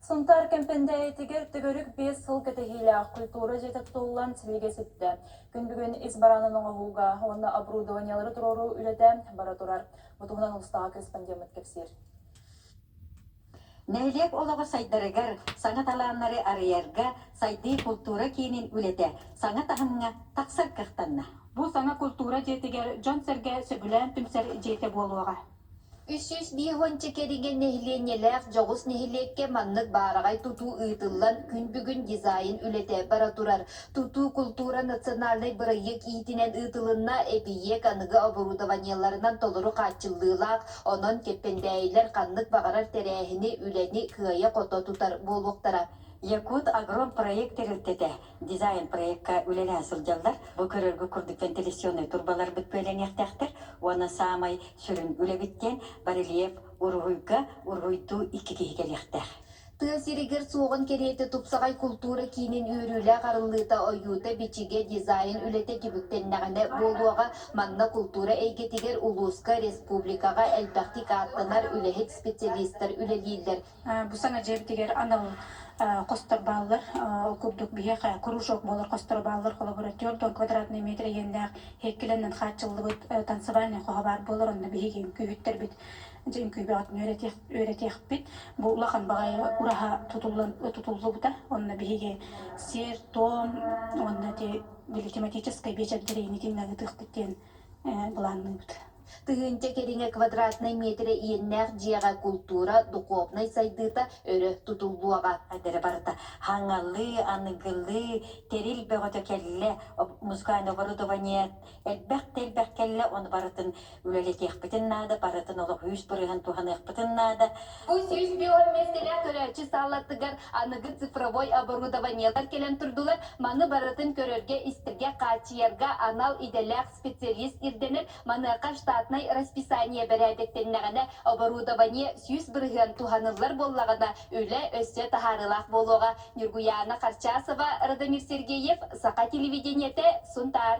Сунтаар Кэмпэндээйитигэр төгүрүк биэс сыл кэтэһиилээх культура дьиэтэ тутуллан силигэ сүттэ. Күн бүгүн ис бараанын оҥоһууга уонна оборудованиелары туруоруу үлэтэ бара турар. Бу туһунан улустааҕы корреспондеммыт кэпсиир. Нэһилиэк олоҕо сайдарыгар, саҥа талааннары арыйарга сайдыы култуура киинин үлэтэ саҥа таһымҥа тахсар кыахтанна. Бу саҥа култуура дьиэтигэр дьон-сэргэ сөбүлээн түмсэр дьиэтэ буолуоҕа. Үс сүүс биир уонча кэриҥэ нэһилиэнньэлээх дьоҕус нэһилиэккэ маннык баараҕай тутуу ыытыллан, күн бүгүн дизайн үлэтэ бара турар. Тутуу култуура национальнай бырайыак иһитинэн ыытылынна, эбийиэк аныгы оборудованиеларынан толору хааччыллыылаах, онон Кэппэндээйилэр ханнык баҕарар тэрээһини, үлэни кыайа-хото тутар буолуохтара. Якут-Агром проект тэрилтэтэ дизайн-проекка үлэлэһэ сылдьаллар. Бу көрөргө курдук вентиляционнай турбаларбыт күөлэҥиэхтээхтэр уонна саамай сүрүн үлэбит диэн барельеф уруһуйга уруһуйдуу икки киһи кэлиэхтээх. Тыа сиригэр суоҕун кэриэтэ тупсаҕай култуура киинин үөрүүлээх арыллыыта, ойуута, бичигэ, дизайн үлэтэ түбүктэннэҕинэ буолуоҕа. Манна култуура эйгэтигэр улууска, республикаҕа элбэхтик ааттанар үлэһит специалистар үлэлииллэр. Бу саҥа дьиэбитигэр анал хостор бааллар. Ол курдук биһиэхэ кружок буолар хосторо бааллар коллаборатор дон квадратный метр иэннээх иһиккилэннэн хааччыллыбыт танцевальнай хоһо баар буолар. Онно биһиги үҥкүүһүттэрбит дьэ үҥкүүбэҕитин үөрэтиэх үөрэтиэхпит. Бу улахан баҕайы ураһа тутуллан тутуллубута. Онно биһиги сиэр тоон уонна те били тематическай биэчэрдэри итиннэ ыытыахпыт диэн былаанныыбыт. Тыһыынча кэриҥэ квадратнай миэтэрэ иэннээх дьиэҕэ култуура, духуобунай сайдыыта өрө тутуллуоҕа. Эрэ барыта хаҥалыы, аныгылыы, тэрил бөҕөтө кэллэ, музыкальное оборудование элбэх да элбэх кэллэ, ону барытын үлэлэтиэхпитин наада, барытын олох үс бырыһан туһаныахпытын наада. Бу сүүс бион миэстэлээх көрөөччү саалатыгар аныгы цифровой оборудованиелар кэлэн турдулар. Маны барытын көрөргө-истэргэ, хааччыйарга анал идэлээх специалист ирдэнэр, маныаха штатнай расписание бэрээдэктэннэҕинэ, оборудование сүүс бырыһыан туһаныллар буоллаҕына, үлэ өссө таһаарыылаах буолуоҕа, Ньургуйаана Харчасова, Радомир Сергеев, Саха телевидениетэ, Сунтаар.